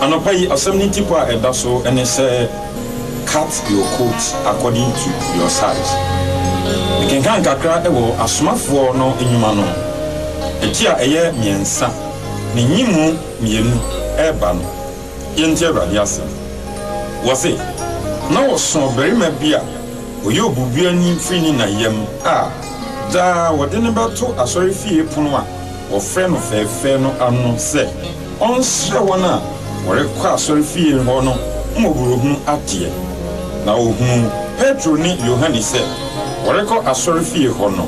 Anɔpa yi asɛm no tipa a ɛda so ne sɛ Cut Your Coat According to Your Size. Mekenkan kakra wɔ Asomafoɔ no Nnwuma no ti a ɛyɛ mmiɛnsa, ne nyimu mmienu reba no. Yɛntie Awurade asɛm. Wɔse, Na wɔso ɔbarima bi a ɔyɛ obubuani firi ne na yam a daa wɔde no bɛto asɔrefie pono a wɔfrɛ no fɛɛfɛɛ no ano sɛ ɔnsrɛ wɔn a wɔrekɔ asɔrefie hɔ no mmɔborɔhunu adeɛ. Na ɔhunuu Petro ne Yohane sɛ wɔrekɔ asɔrefie hɔ no,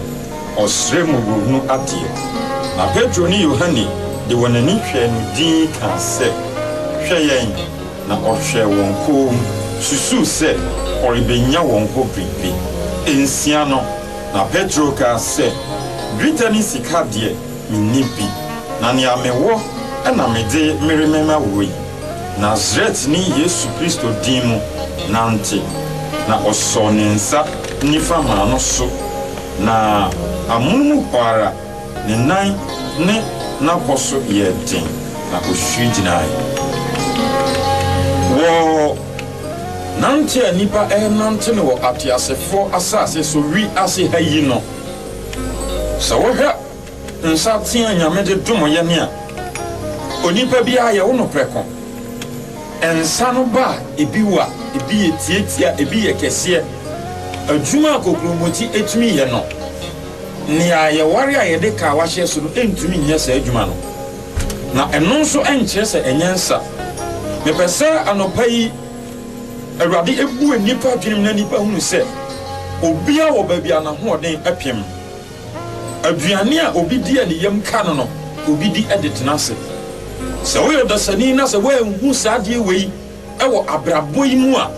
ɔsrɛɛ mmɔborɔhunu adeɛ. Na Petro ne Yohane de wɔn ani hwɛɛ no dinn kaa sɛ, Hwɛ yɛn! Na ɔhwɛɛ wɔn komm, susuu sɛ ɔrebɛnya wɔn hɔ biribi. Nsia no, Na Petro kaa sɛ, Dwetɛ ne sika deɛ, menni bi, na nea mewɔ na mede meremema wo yi, Nasaretni Yesu Kristo din mu, nante. Na ɔsɔɔ ne nsa nifa maa no so, na amono mu hɔ ara ne nan ne n'abɔ so yɛɛ den, na ɔhwiri gyinaeɛ. Wɔ. Nante a nnipa renante no wɔ ateasefo asase so wi ase ha yi no, sɛ wohwɛ nsateaa a Nyame de dom yɛn a, onipa biara yɛwo no prɛko. Nsa no ba a, ebi wo a, ebi yɛ tiatia, ebi yɛ kɛseɛ. Adwuma a kokuroboti tumi yɛ no, nea yɛware a yɛde kawa hyɛ so no ntumi nyɛ saa adwuma no. Na ɛno nso nkyerɛ sɛ ɛnyɛ nsa. Mepɛ sɛ anɔpa yi Awurade bue nnipa adwenem na nnipa hunu sɛ obiara wɔ baabi a n'ahoɔden pem. Aduane a obi di a ne yam ka no no, obi di de tena ase. Sɛ woyɛ ɔdasani na sɛ woanhu saa adeɛ wei wɔ abrabɔ yi mu a,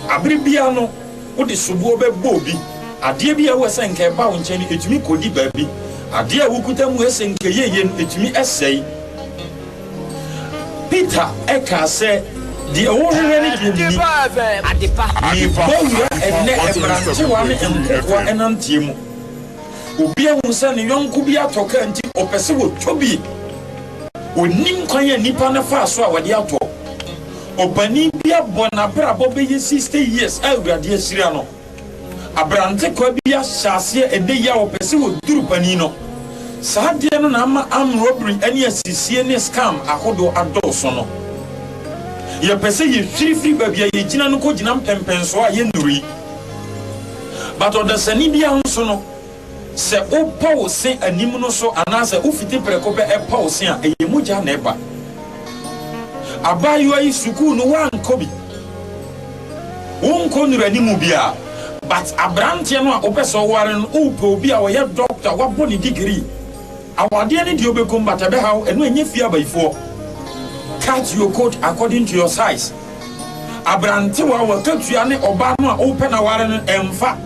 abere biara no, Wode soboɔ bɛbɔ obi. Adeɛ bi a ɛwɔ sɛ nka ɛba wo nkyɛn no, ɛtumi kɔdi baabi. Adeɛ a wokuta mu ɛsɛ nka ɛyɛ yie no, ɛtumi sɛe. Peter kaa sɛ, Deɛ wohwehwɛ ne deɛ menni. Mebɔ wura ɛnnɛ mmerantewa ne nkokoa nanteɛ mu. Obi ahunu sɛ ne yɔnko bi atɔ kaa nti ɔpɛ sɛ ɔtɔ bi. Ɔnnim kwan a nnipa no faa so a wɔde atɔ. Ɔpanin bi abɔ n'abrabɔ bɛyɛ sixty years a Awurade ahyira no. Abrantekwaa bi ahyɛ aseɛ ɛnɛ yi a ɔpɛ sɛ ɔduru panin no. Saa adeɛ no na ama arm robbery ne asisie ne scam ahodoɔ adɔɔso no. Yɛpɛ sɛ yɛhwiri firi baabi a yɛgyina no kɔgyina mpɛmpɛnsoɔ a yɛnnuru yi. But ɔdasani bi ahosuo no, Sɛ wobɔ wo se anim no so anaasɛ wofiti prɛko pɛ pɔ wo se a, ɛyɛ mogya na ɛba. Abaayewa yi, sukuu no woankɔ bi, wonkɔ nnuru anim biara, but aberanteɛ no a wopɛ sɛ woware no, wopɛ obi a ɔyɛ doctor, wabɔ ne degree. Awadeɛ ne deɛ obɛkum but ɛbɛhaw ɛno ɛnyɛ fie abayifoɔ cut your coat according to your size abrantewa wakatua ne ɔbaa no a wopɛ na ware no ɛmfa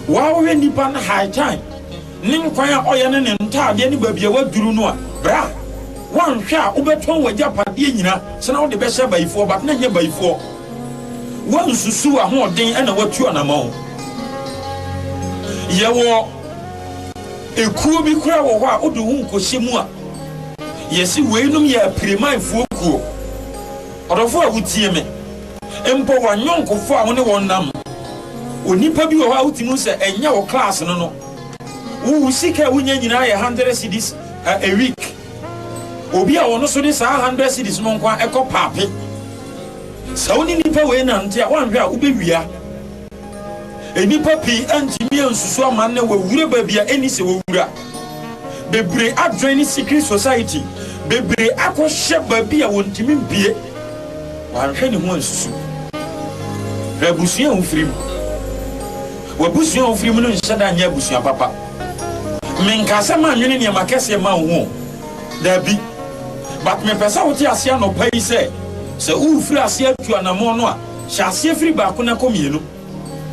waa wohwɛ nipa no high time ne nkwan a ɔyɛ ne ne ntaadeɛ ne baabi a waduru no a bra wanhwɛ a wobɛtɔn wagya padeɛ nyina sena wode bɛhyɛ abayifoɔ but na nyɛ bayifoɔ wansusu ahoɔden ɛna watu anamɔn yɛwɔ Ekuo bi koraa wɔ hɔ a wode wo ho nkɔhyɛ mu a, yɛse weinom yɛ apirimanfoɔ kuo. Ɔdɔfoɔ a wotie me, mpo w'anyɔnkofoɔ a wo ne wɔn nam. Onipa bi wɔ hɔ a wotumi hu sɛ ɛnyɛ wo class no no. Wo wo sika a wonya nyinaa yɛ hundred cedis a a week. Obi a ɔno nso de saa hundred cedis no nko ara kɔ paape. Sɛ wo ne nipa wei nante a woanhwɛ a wobɛwia. Nnipa pii antumi ansusu ama nnɛ wɔawura baabi a ɛni sɛ wɔwura. Bebree adwene ne secret society, bebree akɔhyɛ baabi a wɔntumi mpue. Wanhwɛ ne ho ansusu. Hwɛ abusua a wofiri mu. W'abusua a wofiri mu no nhyɛ da nyɛ abusua papa. Menka sɛ mannwene nneɛma kɛseɛ ma wo ho. Daabi. But mepɛ sɛ wote aseɛ anɔpa yi sɛ, sɛ worefiri aseɛ atu anammɔn no a, Hyɛ aseɛ firi baako na kɔ mmienu.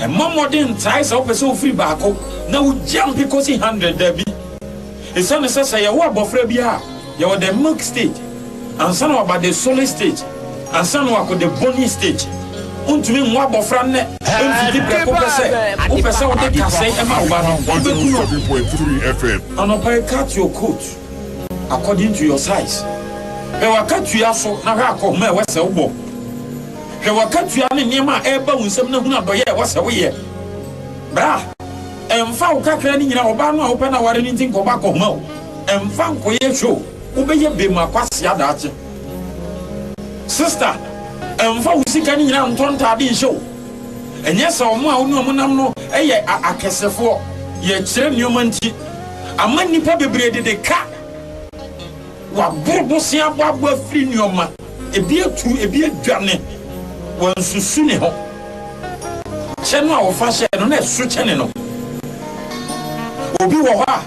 Mmɔ mmɔden ntrae sɛ wopɛ sɛ wofiri baako na wogyampe kɔsi hundred, dabi. Esiane sɛ sɛ yɛwo abɔfra bi a, yɛwɔ the milk stage ansa na waba the solid stage ansa na wakɔ the bony stage. Wontumi nwo abɔfra nnɛ mfiti prɛko pɛ sɛ wopɛ sɛ wode kasɛe ma wo ba no, wobɛku no. Anɔpa yi cut your coat. according to your size. Hwɛ w'akatua so na hwɛ akɔnhoma a ɛwɔ sɛ wobɔ. Hwɛ w'akatua ne nneɛma a ɛreba wo nsam na hunu adɔyɛ a ɛwɔ sɛ woyɛ. Bra, ɛmfa wo kakra no nyinaa, ɔbaa no a wopɛ no aware no nti nkɔbɔ akɔnhoma o, ɛmfa nkɔyɛ show, wobɛyɛ bem akwasia daakye. Sista, ɛmfa wo sika no nyinaa ntɔ ntaade nhyɛ o. Ɛnyɛ sɛ wɔn a wo ne wɔn nam no yɛ akɛsefoɔ, yɛkyerɛ nneɛma nti. ama nnipa bebree de de ka. Wɔaboro bosea bɔ abɔ afiri nneɛma, ebi atu, ebi adwane. Wɔansusu ne ho. Kyɛ no a wɔfa hyɛɛ no, na ɛso kyɛne no. Obi wɔ hɔ a,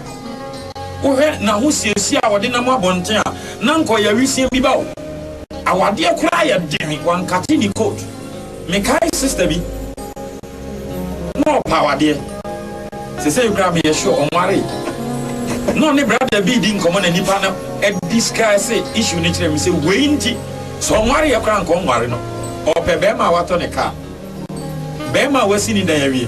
wohwɛ n'ahosiesie a ɔde nam abɔnten a, na anka ɔyɛ awisiaa bi ba o. Awadeɛ koraa yɛ den, wankate ne coat. Mekae sista bi. na ɔpa awadeɛ sesei koraa meyɛ sure ɔnwaree na ɔne brada bi di nkɔmmɔ na nipa no discuss issue no kyerɛ me sɛ wei nti sɛ ɔnwareɛ koraa nka ɔnware no ɔpɛ bɛrima a watɔ ne kaa bɛrima a wasi ne dan awie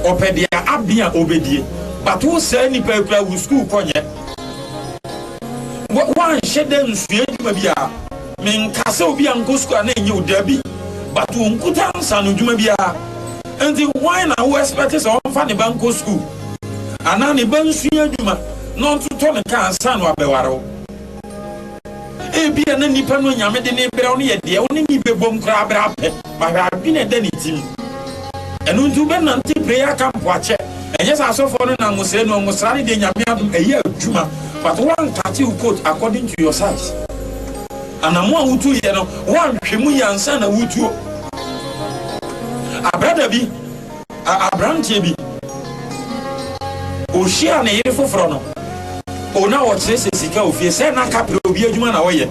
ɔpɛ deɛ abe a ɔbɛdie but wo saa nipa kura wo sukuu kɔnyɛ woanhyɛ dɛ nsua adwuma biara Menkaa sɛ obi ankɔ sukuu a na ɛnyɛ wo dabi but wo nkuta nsaano dwuma biara nti why na wo expect sɛ ɔmfa ne ba nkɔ sukuu anaa ne ba nsua adwuma na ɔntotɔ ne kaa ansa na wabɛware wo. Ebia na nipa no anyame de ne brɛ wo no yɛ deɛ wo ne ne bɛbom koraa berɛ apɛ. Ma w'adwene ɛda ne tim. Ɛno nti wobɛnante prayer camp wakyɛ ɛnyɛ sɛ asɔfoɔ no nam wo sɛɛ no ɔmo sra no deɛ nyame adom ɛyɛ adwuma but woankate wo coat according to your size anamo a wotu yɛ no woanhwɛ mu yɛ ansa na wotuo abrada bi Aberanteɛ bi, ɔhyiaa ne yere foforɔ no, o na wɔkyerɛkyerɛ sika wɔ fie, sɛ na kaprɛ obi adwuma na wɔyɛ.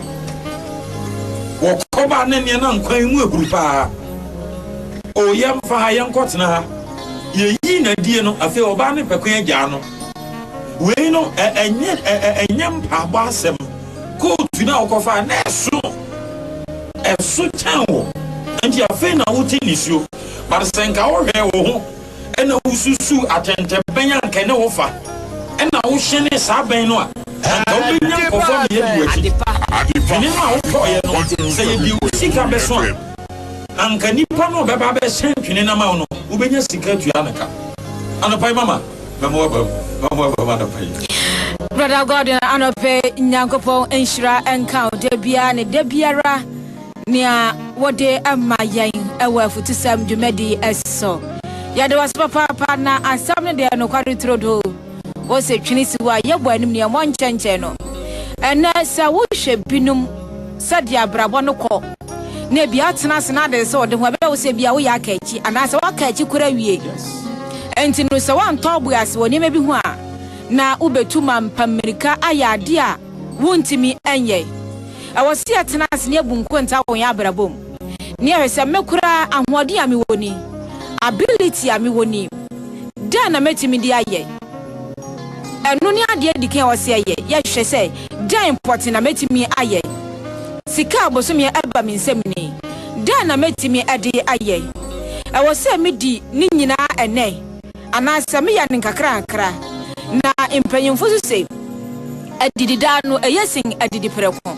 Wɔkɔba ne nneɛ na nkwan mu ahuru paa. O yɛmfa ha, yɛnkɔtena ha. Yɛyii n'adie no, afei ɔbaa ne pɛko agyaa no. Wei no, ɛnyɛ, ɛnyɛ mpaabɔ asɛm. Kootu no a wokɔfaa, na ɛso, ɛso kyɛn wo, enti afei na wote nisuo. But sɛ nka wo hwɛɛ wo ho ɛna wo susuu atɛntɛbɛn a nka ɛne wo fa ɛna wo hyɛnee saa bɛn no a anka wo bɛnya nkɔfoɔ ne yɛdi wakyi. Dwene no a wo tɔɔyɛ no sɛ yɛ de wo sika bɛso a anka nipa no a ɔbɛba abɛhyɛn twene no ama wo no wo bɛnya sika atua no ka. Anɔpa yi mama mɛma wabam mɛma wabam anɔpa yi. Brother Gordon anɔpa yi Nyankopɔn nhyira nka wo da biara ne da biara. Nea wode ma yɛn wɔ afutusɛm dwumadi so. Yɛde wo ase papaapa na asɛm no deɛ nokware turodoo. Wose twene si hɔ a yɛbɔ anim ne ɛmmɔ nkyɛnkyɛn no. Ɛnɛ sɛ wohwɛ binom sɛdeɛ abrabɔ no kɔ na ebi atena ase na ade sɛ ɔde ho ɛbɛyɛ wo sɛ ebi a woyɛ aka akyi anaasɛ woaka akyi kora awie. Enti no sɛ woantɔ bo ase wɔ nneɛma bi ho a na wobɛtu ma mpammirika ayɛ adeɛ a Wuntumi nyɛ. Ɛwɔ sɛ yɛtena ase na yebu nkontaa wɔ yɛn abrabɔ mu, na yɛhwɛ sɛ, 'Me koraa, ahoɔden a mewɔ ni? Ability a mewɔ ni? Dɛn na metumi de ayɛ? Ɛno ne ade a edi kan a ɛwɔ sɛ yɛyɛ. Yɛhwɛ sɛ, 'Dɛn pɔtee na metumi ayɛ? Sika a bosome a ɛba me nsam ni? Dɛn na metumi de ayɛ? Ɛwɔ sɛ midi ne nyinaa ɛnnɛ? Anaasɛ meyɛ no nkakrankakra. Na mpanyimfo nso se, Adidi daa no eye sen adidi prɛko.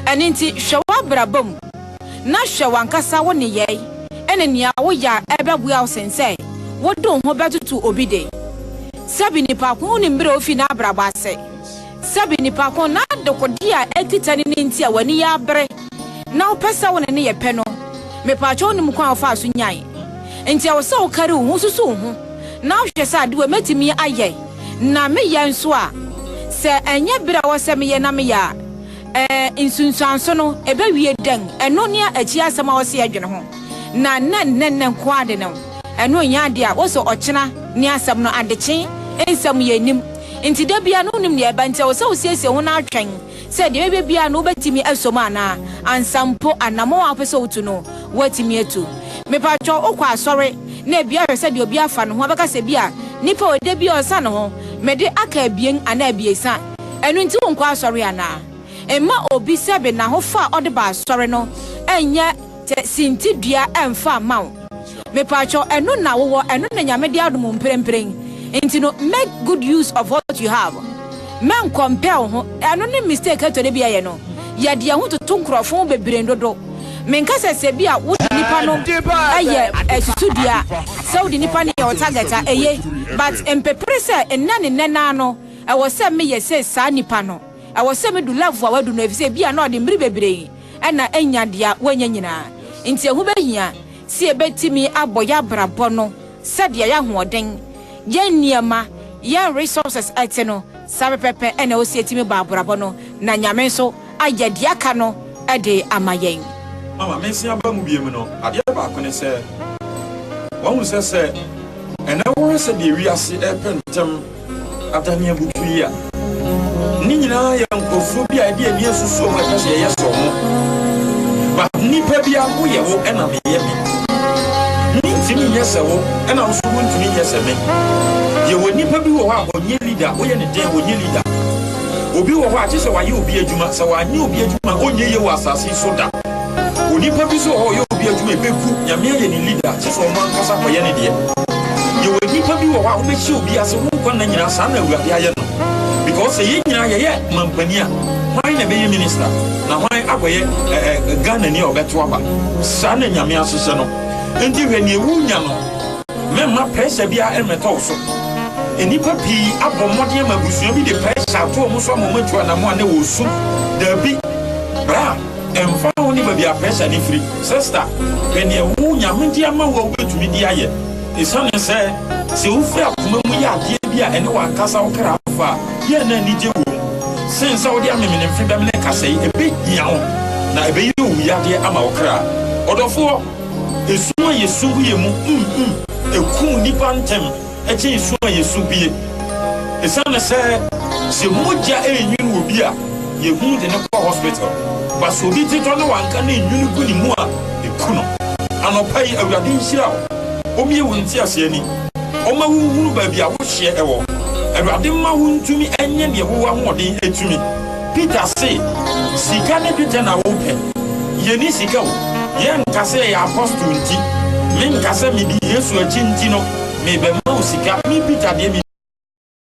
Ɛno nti, hwɛ w'abrabɔ mu, na hwɛ w'ankasa wo nneyɛe ne nea woyɛ a ɛbɛboa wo sen sɛ wode wo ho bɛtoto obi de. Sɛbe nnipa ko no nim bere a ofi n'abrabɔ ase. Sɛbe nnipa ko na dekode a ɛkita ne no nti a w'ani yɛ abere na wopɛ sɛ wo ne no yɛ pɛ no, mepaakyɛw wonim kwan a wofaa so nyae? Enti ɛwɔ sɛ wokari wo ho susuw ho na wohwehwɛ sɛ ade wei mɛtumi ayɛ na meyɛ nso a? Sɛ ɛnyɛ bere a ɛwɔ sɛ meyɛ na meyɛ a, ɛɛ nsunsuanso no ɛbɛwie dɛn? Ɛno ne akyiri asɛm a ɛwɔ sɛ yɛdwene ho na ɛnyɛ nnɛnnɛ nko ara de no. Ɛno nyɛ ade a wose ɔkyena ne asɛm no adekye nsɛm yɛ nnim. Enti da biara no wonnim nea ɛbɛba, enti ɛwɔ sɛ wosiesie wo ho na atwɛn sɛ deɛ ɛbɛba biara no wobɛtumi aso mu anaa, ansa mpo anammɔn a wopɛ sɛ wotu no, woatumi atu. Mepatwɔ, wokɔ asɔre na ebia wohwɛ sɛdeɛ obi afa ne ho a, wobɛka sɛ ebia nipa wei da biara ɔsa ne ho, mede aka abien anaa abiɛsa, ɛno nti wonkɔ asɔre anaa? Mma obi sɛ be n'ahofa a ɔde ba asɔre no nyɛ. Sɛ sinti dua ɛnfa mma wo. Mepaatwɔ ɛno na wowɔ ɛno na nyame de adom wo mprempren nti no make good use of what you have mɛ nkɔmpɛ wo ho ɛno ne mistake ɛtɔ da bi yɛyɛ no yɛde yɛn ho toto nkorɔfo ho bebree dodo menka sɛ sɛ bi a wode nipa no ɛyɛ ɛsusu dua sɛ wode nipa no yɛ wo target a ɛye but mpepere sɛ nnɛ ne nnɛ naa no ɛwɔ sɛ meyɛ sɛ saa nipa no ɛwɔ sɛ me du level a wadu no ɛfisɛ bi a na ɔde mmere bebree na anya deɛ wanya nyinaa. Nti ɛho bɛhia sɛ yɛbɛtumi abɔ yɛn abrabɔ no sɛdeɛ yɛn ahoɔden, yɛn nneɛma, yɛn resources te no, saa pɛpɛpɛ na ɛwɔ sɛ yɛtumi bɔ abrabɔ no na Nyame nso ayɛ deɛ aka no de ama yɛn. Ama me nsa aba mu biom no, adeɛ baako ne sɛ, wahu sɛ sɛ ɛnɛ wohwɛ sɛdeɛ wiase repɛ ntɛm, Adanneabutu yi a ne nyinaa yɛ nkurɔfoɔ bi a ɛde ani asusu wɔn ɛpɛ sɛ yɛyɛ sɔ ho but nipa bi a woyɛ wo ɛna meyɛ me mentumi nyɛ sɛ wo ɛna wo so wontumi nyɛ sɛ me yɛwɔ nipa bi wɔ hɔ a ɔnyɛ leader woyɛ ne dɛn ɔnyɛ leader obi wɔ hɔ a kye sɛ wayɛ obi adwuma sɛ wanyɛ obi adwuma ɔnyɛ yɛ wɔ asase so da Onipa bi so ɔyɛ obi adwuma ebeku nyame ayɛ ne leader kyɛ sɛ ɔno ankasa kɔyɛ ne deɛ yɛwɔ nnipa bi wɔ hɔ a wobɛhyɛ obi ase wo nkwa nna nyinaa saa na awurade ayɛ no because sɛ yɛn nyinaa yɛyɛ mampani a hwan na ɛbɛyɛ minister na hwan akɔyɛ Ghana ni a ɔbɛto aba saa na nyame ahyehyɛ no nti hwɛ nea ewu nya no mɛma pressure bi a ɛmmɛtɔ wo so nnipa pii abɔ mmɔden ama abusua bi de pressure ato wɔn so ama wɔn atu anamo a na wɔsu daabi bra Ɛmfa ho ne baabi a pressure no firi, sista, hwɛ nea wo Nyame de ama wo a wubetumi de ayɛ. Esiane sɛ, sɛ wufura koma mu yɛ adeɛ bi a ɛne w'ankasa wo kra fa a, yɛ a na anigye wom. Sen sɛ wode amemenemfe bɛmene kasɛe, ebehia wo, na ɛbɛyɛ owu yadeɛ ama wo kra. Ɔdɔfoɔ, esum a yɛsum gu yɛn mu, mm, mm, ekum nnipa ntɛm. gye nsu a yesu bue. Esiane sɛ sɛ mogya renwini obi a, yehu de no kɔ hospital, ba sɛ obi ti tɔ na wanka na enwini gu ne mu a, eku no. Anɔpa yi, Awurade nhyira wo, ommue wo ntease ani, ɔmma wunhunu baabi a wo hyeɛ wɔ. Awurade mma wuntumi nyɛ nea wowɔ ahoɔden tumi. Peter se, Sika ne dwetɛ na wopɛ? Yenni sika o. Yɛnka sɛ yɛyɛ apostol nti, menka sɛ midi Yesu akyi nti no, merebɛma wo sika. Me Peter deɛ, minni.